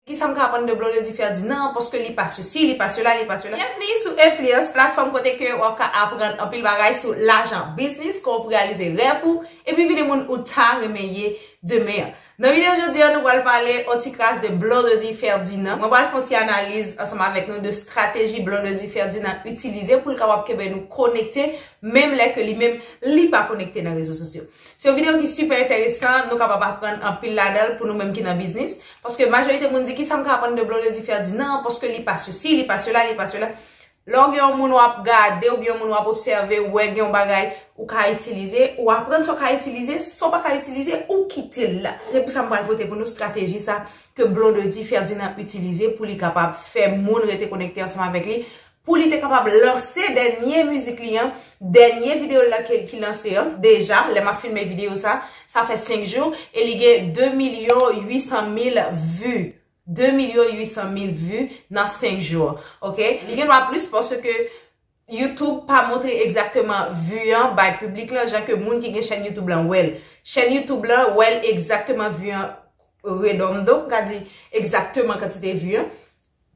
Kisa m ka aprann de Blondedy Ferdinand paske li pa sesi, li pa sela, li pa sela. Byenvni sou Influence, platfòm kote ke wap ka aprann anpil bagay sou lajan, biznis, kòman pou reyalize rèv ou, epi vini moun ou ta renmen ye demen. Nan videyo jodi an nou pral pale on ti kras de Blondedy Ferdinand. Mwen pral fè on ti analiz ansanm avèk nou de strateji Blondedy Ferdinand itilize pou l kapab kenbe nou konekte menm lè ke li menm li pa konekte nan rezo sosyo. Se yon videyo ki sipè enteresan, nou kapab aprann anpil ladan l pou nou menm ki nan biznis. Paske majorite moun di ki sa m ka aprann de Blondedy Ferdinand, paske li pa sesi, li pa sela, li pa sela. Lè w gen yon moun w ap gade oubyen yon moun w ap obsève, ou wè gen yon bagay ou ka itilize, ou aprann sa w ka itilize, sa w pa ka itilize, ou kite l la. Se pou sa m pral pote pou nou strateji sa ke Blondedy Ferdinand itilize pou li kapab fè moun rete konekte ansanm avèk li pou li te kapab lanse dènye mizik li an, dènye videyo l la ke ki lanse an, deja, lè m ap filme videyo sa, sa fè 5 jou, e li gen 2 milyon 800 mil vu, 2 milyon 800 mil vu nan 5 jou, ok, li gen dwa plis paske YouTube pa montre egzakteman vu an bay piblik lan jan ke moun ki gen chèn YouTube lan wè l, chèn YouTube lan wè l egzakteman vu an redondo, m ka di egzakteman kantite vu an,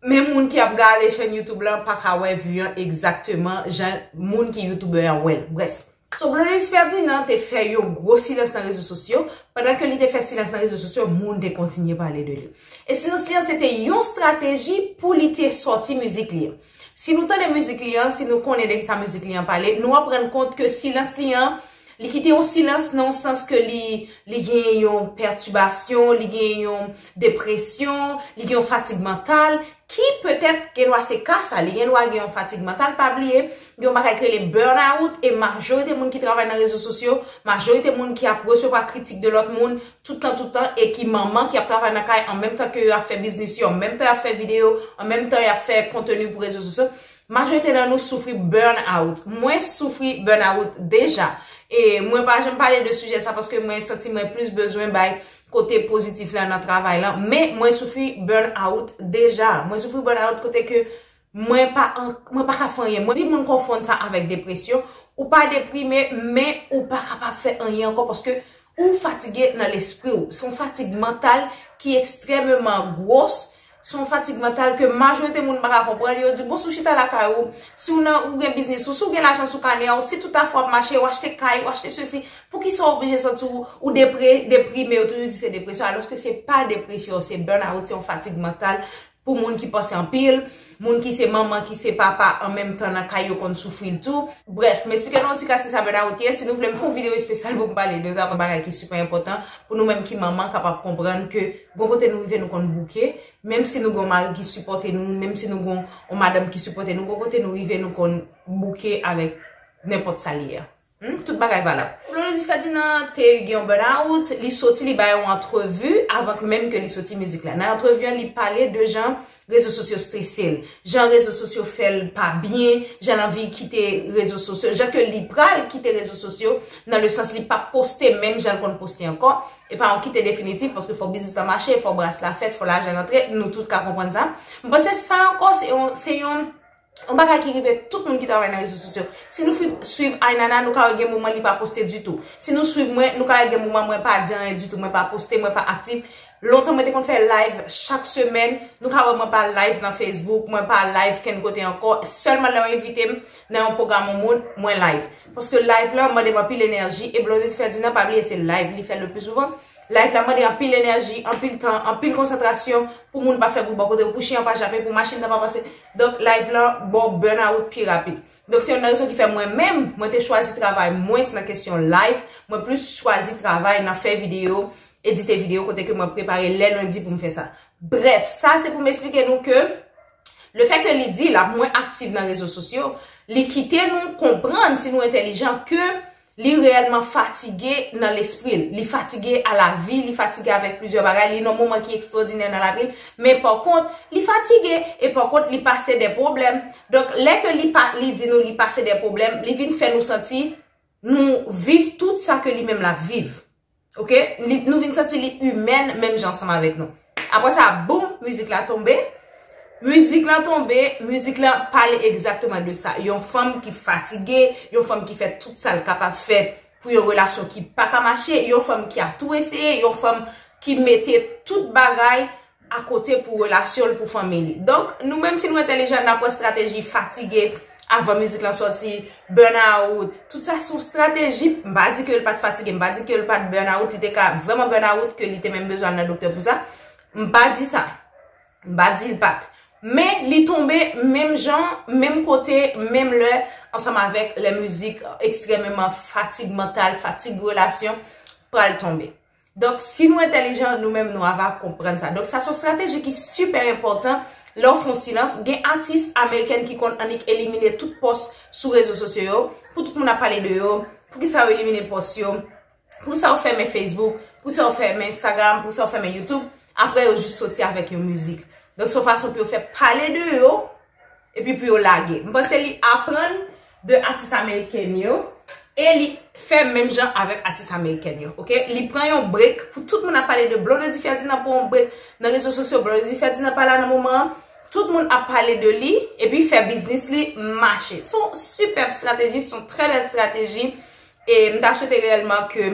Men moun ki ap gale chèn youtube lan pa ka wè vue an egzakteman jan moun ki youtubè an wèl. Brèf. So Blaise Ferdinand te fè yon gwo silans nan rezo sosyo, pandan ke li te fè silans nan rezo sosyo moun te kontinye pale de li. E silans li an se te yon strateji pou li te sòti mizik li an. Si nou tande mizik li an, si nou konnen de kisa mizik li an pale, nou ap rann kont ke silans li an Li kite yon silans nan yon sans ke li, li gen yon pètibasyon, li gen yon depresyon, li gen yon fatig mantal, ki petèt gen dwa se ka sa, li gen dwa gen yon fatig mantal, pa bliye, gen yon bagay ki rele burn out, e majorite moun ki travay nan rezo sosyo, majorite moun ki ap resevwa kritik de lòt moun, tout tan tout tan, e ki manman ki ap travay nan kay, an menm tan ke yo ap fè biznis yo, an menm tan yo ap fè videyo, an menm tan yo ap fè konteni pou rezo sosyo, Majorite nan nou soufri burn out. Mwen soufri burn out deja. E mwen pa janm pale de sijè sa paske mwen santi mwen plis bezwen bay kote pozitif la nan travay lan. Men mwen soufri burn out deja. Mwen soufri burn out kote ke mwen pa ka fè anyen. Mwen pi moun konfonn sa avèk depresyon. Ou pa deprime men ou pa kapab fè anyen ankò paske ou fatige nan lespri ou. Son fatig mantal ki ekstrememan gwos. Se yon fatig mantal ke majorite moun pa ka konprann. Yo di, bon si w chita lakay ou, si w nan, ou gen biznis ou, si w gen lajan sou kanè a ou, si tout afè w ap mache, w achte kay, w achte sesi, poukisa w oblije santi w ou depre, deprime, yo toujou di se depresyon, alòske se pa depresyon, se burnout, se yon fatig mantal pou moun ki panse anpil, moun ki se manman, ki se papa an menm tan nan kay yo konn soufri l tou. Brèf, m esplike nou yon ti kras kisa burnout ye, si nou vle m fè yon videyo espesyal pou m pale de sa, bagay ki sipè enpòtan pou nou menm ki manman kapab konprann ke Gon kote nou rive nou konn bouke, menm si nou gon mari ki sipòte nou, menm si nou gon yon madanm ki sipòte nou, gon kote nou rive nou konn bouke avèk nenpòt sa l ye a. Tout bagay valab. Blondedy Ferdinand te gen yon burn out, li soti li bay yon antrevi avan k menm ke li soti mizik la. Nan antrevi an li pale de jan Rezo sosyo strese l. Jan rezo sosyo fè l pa byen, jan l anvi kite rezo sosyo, jan ke li pral kite rezo sosyo, nan le sans li p ap poste menm jan l konn poste ankò. E pa yon kite definitif, paske fò biznis lan mache, fò bras la fèt, fò lajan rantre, nou tout ka konprann sa. M panse sa ankò se yon, se yon. Yon bagay ki rive tout moun ki travay nan rezo sosyo. Si nou swiv Aynana, nou ka wè gen moman li pa poste ditou. Si nou swiv mwen, nou ka wè gen moman mwen pa di anyen ditou, mwen pa poste, mwen pa aktif. Lontan mwen te konn fè layv chak semèn, nou ka wè mwen pa layv nan Facebook, mwen pa layv kenn kote ankò. Sèlman lè yo envite m nan yon pwogram yon moun, mwen layv. Paske layv la mande m anpil enèji, e Blondedy Ferdinand pa bliye se layv li fè le pli souvan. Layv la mande anpil enèji, anpil tan, anpil konsantrasyon pou moun pa fè bri bò kote ou, pou chen an pa jape, pou machin nan pa pase. Donk live lan baw burnout pi rapid. Donk se youn nan rezon ki fè mwen menm, mwen te chwazi travay mwens nan kesyon live, mwen plis chwazi travay nan fè videyo, edite videyo kote ke mwen prepare lè lendi pou m fè sa. Brèf, sa se pou m esplike nou ke le fè ke li di lap mwen aktiv nan rezo sosyo, li kite nou konprann si nou entelijan ke Li reyèlman fatige nan lespri l. Li fatige a lavi, li fatige avèk plizyè bagay, li nan yon moman ki ekstwòdinè nan lavi l. Men pakont, li fatige. E pakont, li pase dè pwoblèm. Donk, lè ke li pa, li di nou li pase dè pwoblèm, li vin fè nou santi nou viv tout sa ke li menm l ap viv. Ok, nou vin santi li imèn menm jan ansanm avèk nou. Apre sa, boum, mizik la tonbe. Mizik la tonbe, mizik la pale egzakteman de sa. Yon fanm ki fatige, yon fanm ki fè tout sa l kapab fè pou yon relasyon ki pa ka mache, yon fanm ki ap tou eseye, yon fanm ki mete tout bagay akote pou relasyon l pou fanmi li donk nou menm si nou entèlijan n ap wè strateji fatige avan mizik lan sòti burn out tout sa se yon strateji m pa di ke l pat fatige m pa di ke l pat burn out li te ka vrèman burn out ke li te menm bezwen al nan doktè pou sa m pa di sa m pa di l pat men li tonbe menm jan menm kote menm lè ansanm avèk lè mizik ekstrèmeman fatig mantal fatig relasyon pral tonbe Donk si nou entèlijan nou menm nou ava konprann sa. Donk sa son strateji ki sipè enpòtan lè w fon silans. Gen atis amerikèn ki konn annik elimine tout pòs sou rezo sosyo yo. Pou tout moun ap pale de yo. Poukisa yo elimine pòs yo. Poukisa yo fèmen Facebook. Poukisa yo fèmen Instagram. Poukisa yo fèmen YouTube. Aprè yo jis soti avèk yon mizik. Donk son fason pou yo fè pale de yo. Epi pou yo lage. M panse li aprann de atis ameriken yo e li fè menm jan avèk atis amerikèn yo. Ok. Li pran yon break pou tout moun ap pale de Blondedy Ferdinand pran yon break nan rezo sosyo Blondedy Ferdinand pa la nan moman an. Tout moun ap pale de li epi fè biznis li mache. Son sipèb strateji, son trè bèl strateji e m ta swete reyèlman ke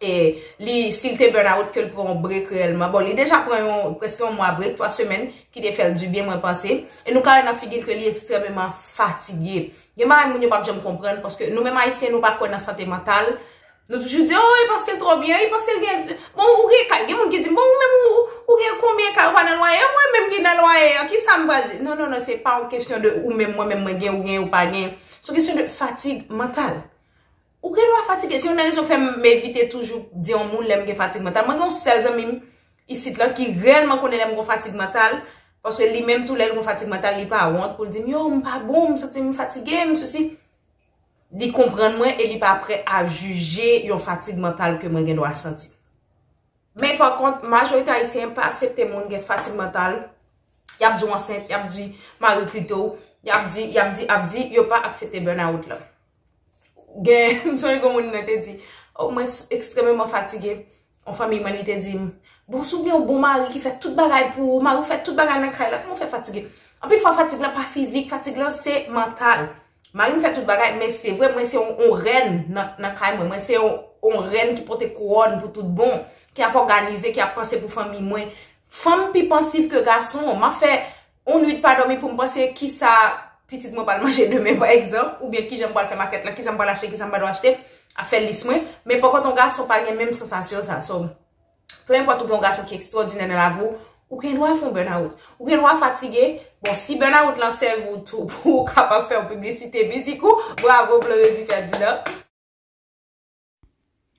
e li si l te burnout ke l pran yon break reyèlman, bon li deja pran yon preske yon mwa break, 3 semèn ki te fè l di byen mwen panse, e nou ka wè nan figi l ke li ekstrèmeman fatige. Gen bagay moun yo pap janm konprann paske nou menm ayisyen nou pa kwè nan sante mantal, nou toujou di oh e paske l twò byen, e paske l gen bon ou gen kay, gen moun ki di m bon ou menm ou gen konbyen kay ou pa nan lwaye, mwen menm ki nan lwaye an ki sa m pral di, non non non se pa yon kesyon de ou menm mwen menm mwen gen ou gen ou pa gen, se yon kesyon de fatig mantal. Ou gen dwa fatige, se youn nan rezon k fè m evite toujou di yon moun lè m gen fatig mantal. Mwen gen yon sèl zanmi m isit lan ki rèlman konnen lè m gen fatig mantal, paske li menm tou lè l gen fatig mantal li pa wont pou l di m yo m pa bon, m santi m fatige, m sesi. Li konprann mwen e li pa prè a jije yon fatig mantal ke mwen gen dwa santi. Men pa kont, majorite ayisyen pa aksepte moun gen fatig mantal, y ap di w ansent, y ap di mari kite w, y ap di, y ap di, y ap di, yo pa aksepte burnout lan. Gen, m sonje gen yon moun mwen te di, oh mwen ekstrememan fatige, yon fanmiy mwen li te di m, bon si w gen yon bon mari ki fè tout bagay pou ou, mari w fè tout bagay nan kay la, kouman w fè fatige? Anpil fwa fatig la pa fizik, fatig la se mantal. Mari m fè tout bagay, men se vre mwen se yon rèn nan kay mwen, mwen se yon rèn ki pote kouwòn pou tout bon, ki ap òganize, ki ap panse pou fanmiy mwen. Fanm pi pansiv ke gason, m ap fè On nwit pa dòmi pou m panse ki sa pitit mwen pral manje demen pa egzanp, oubyen ki jan m pral fè makèt lan, ki sa m pral achte, ki sa m pa dwe achte, ap fè lis mwen. Men pòkont on gason pa gen menm sansasyon sa. So, pe enpòt ou gen on gason ki ekstwòdinè nan lavi w, ou gen dwa fè on bènawout. Ou gen dwa fatige. Bon, si bènawout lan sèvi w tou pou ou kapab fè on piblisite mizik ou, bravo Blondedy Ferdinand.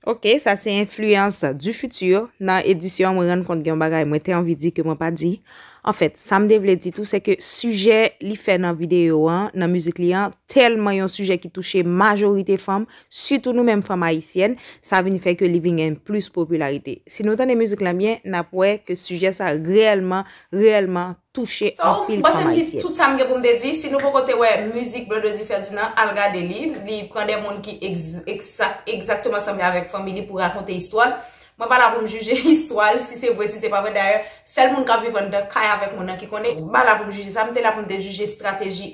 Ok sa se enfliyans du futur nan edisyon mwen rann kont gen yon bagay mwen te anvi di ke mwen pa di. Anfèt, sa m te vle di tou se ke sijè li fè nan videyo an, nan mizik li an, tèlman yon sijè ki touche majorite fanm, sitou nou menm fanm ayisyèn, sa vin fè ke li vin gen plis popilarite. Si nou tande mizik lan byen, n ap wè ke sijè sa reyèlman, reyèlman, touche anpil fanm ayisyèn. Tout sa m gen pou m te di, si nou poko te wè mizik Blondedy Ferdinand, al gade li, li pran de moun ki egzakteman sanble avèk fanmi li pou rakonte istwa l. Mwen pa la pou m jije istwa l, si se vre, si se pa vre, dayè, sèl moun k ap viv anndan kay avèk moun nan ki konnen, m pa la pou m jije sa, m te la pou m te jije estrateji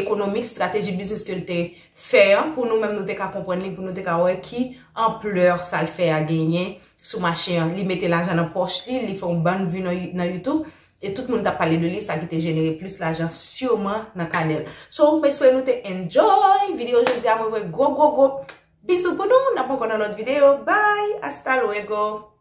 ekonomik, estrateji biznis ke l te fè an, pou nou menm nou te ka konprann li, pou nou te ka wè ki anplè sa l fè a genyen, sou mache an li mete lajan nan pòch li, li fè yon bann vue nan youtube e tout moun tap pale de li sa ki te jenere plis lajan sûrement nan kanè l so m espere nou te enjoy video jodi a mwen voye gwo gwo gwo bisou pou nou n ap ankò nan lòt video bye hasta luego.